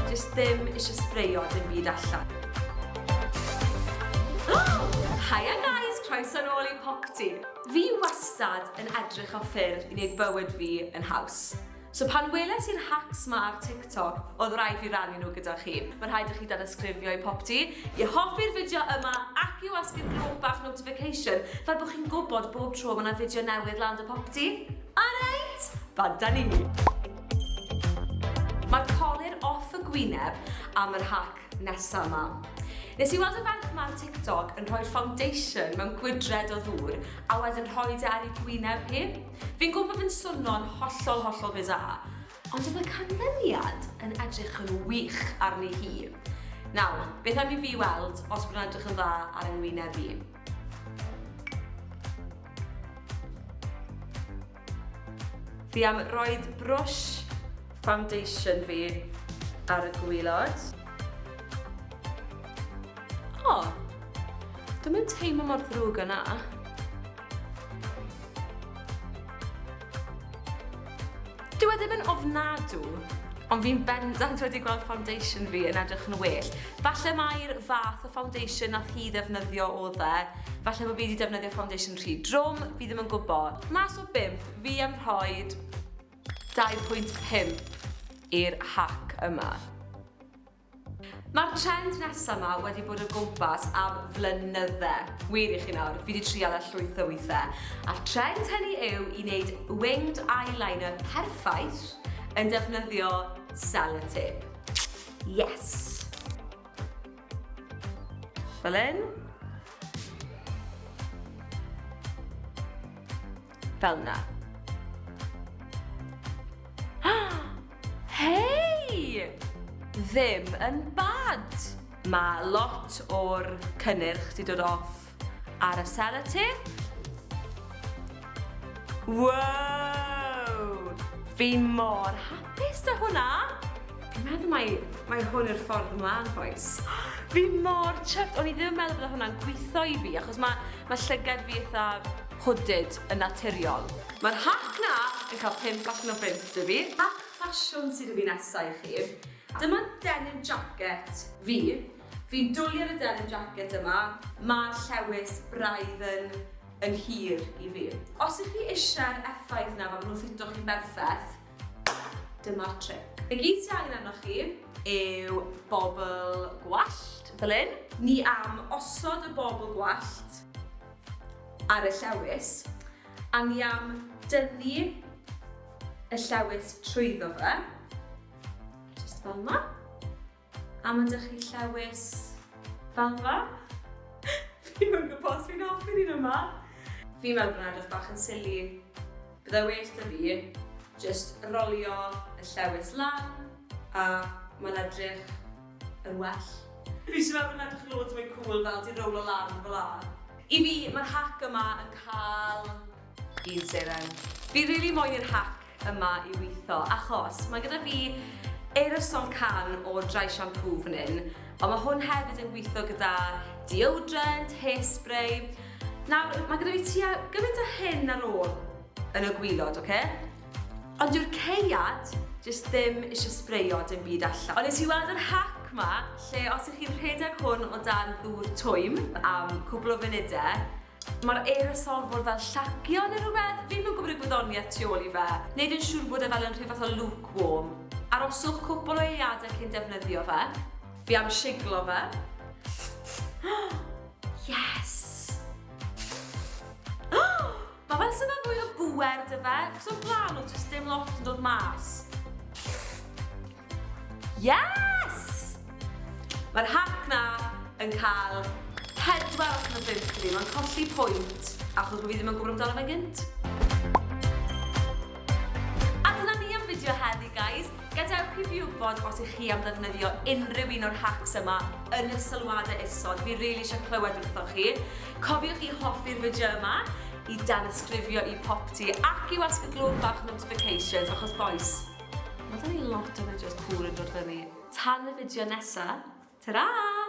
Just ddim eisiau sbreio dim byd allan. Hiya guys, croeso nôl i Popty. Fi wastad yn edrych o ffyrdd i wneud bywyd fi yn haws. So pan weles i'r hacks ma ar TikTok, oedd rhaid fi rannu nhw gyda chi. Mae'n rhaid i chi danysgrifio i Popty, i hoffi'r fideo yma ac i wasgu'r glow bach notification fel bod chi'n gwybod bob tro mae yna fideo newydd lan dy Popty. Alright, banta ni! Mae'r colur off y gwyneb am yr hack nesa 'ma. Nes i weld y ferch 'ma ar TikTok yn rhoi'r foundation mewn gwydred o ddŵr a wedyn rhoi e ar ei gwyneb hi. Fi'n gwybod bod fe'n swnio'n hollol hollol bizarre, Ond oedd y canlyniad yn edrych yn wych arni hi. Nawr, beth am i fi weld os bod yn edrych yn dda ar yng ngwyneb i. Fi am roed brwsh foundation fi ar y gwylod. O, oh, dwi'n mynd teimlo mor ddrwg yna. Dyw e ddim yn ofnadw, ond fi'n bendant wedi gweld foundation fi yn edrych yn well. Falle mai'r fath o foundation nath hi ddefnyddio oedd e. Falle bod fi wedi defnyddio foundation rhy drwm, fi ddim yn gwybod. Mas o bimp, fi am rhoi 2.5 i'r hack yma. Mae'r trend nesa ma wedi bod o gwmpas am flynydde. Wir i chi nawr, fi di trial e llwyth o withe. A'r trend hynny yw i wneud winged eyeliner perffaith yn defnyddio sellotape. Yes! Fel hyn. Fel na. Hei! Ddim yn bad! Mae lot o'r cynnyrch di dod off ar y sellotape. Wow! Fi mor hapus da hwnna! Fi'n meddwl mai, mai hwn yw'r ffordd ymlaen, bois. Fi mor chuffed, o'n i ddim yn meddwl bod hwnna'n gwitho i fi, achos mae ma llygad fi eitha hooded yn naturiol. Mae'r hack 'na yn cael pump allan o bump 'da fi. Hack ffasiwn sydd 'da fi nesa i chi. Dyma denim jacket fi. Fi'n dwli ar y denim jacket yma, ma'r llewys braidd yn yn hir i fi. Os 'y chi eisiau'r effaith 'na fel ma' nhw'n ffito chi'n berffeth, Dyma'r tric. Y gyd sy angen arnoch chi yw bobl gwallt, fel hyn. Ni am osod y bobl gwallt ar y llewys, a ni am dynnu y llewys trwyddo fe, jyst fel 'ma. Am ydych chi llewys ddalfa? Fi'm yn gwybod os fi'n hoffi'r un yma. Fi'n meddwl bod hwnna'n edrych bach yn silly. Byddai well 'da fi jyst rolio y llewys lan a mae'n edrych yn well. Fi jyst yn meddwl bod hwnna'n edrych loads mwy cwl fel 'di rowlo lan fel'a. I fi, ma'r hack yma yn cael... Dydd Seren. Fi rili moyn i'r hack yma i witho achos mae gyda fi aerosol can o dry shampoo fan hyn ond mae hwn hefyd yn gwitho gyda deodorant, hairspray. Nawr, mae gyda fi tua gymaint o hyn ar ôl yn y gwylod, oce? Ond dyw'r ceiad jyst ddim eisiau sbreio dim byd allan. Ond nes i weld yr hack ma lle os ych chi'n rhedeg hwn o dan ddŵr twym am cwbl o funudau Mae'r aerosol fod fel llacio neu rhywbeth, fi'm yn gwybod y gwyddoniaeth tu ôl i fe. Neud yn siŵr bod e fel yn rhyw fath o luke warm. Aroswch cwpwl o eiliadau cyn defnyddio fe. Fi am shiglo fe. Yes! Mae fel sy'n fel fwy o bŵer 'da fe, achos o'r blaen oedd jyst dim lot yn dod mas. Yes! Mae'r hack na yn cael pedwar allan o bump i fi. Mae'n colli pwynt achos bod fi ddim yn gwybod amdano fe gynt. A dyna ni am fideo heddi, guys. Gadewch i fi wybod os ych chi am ddefnyddio unrhyw un o'r hacks yma yn y sylwadau isod. Fi rili eisiau clywed wrtho chi. Cofiwch i hoffi'r fideo yma, i danysgrifio i popty ac i wasgu glwb bach notifications achos boys, Ma' gen i lot o fideos cŵl yn dod fyny tan y fideo nesa. Tara!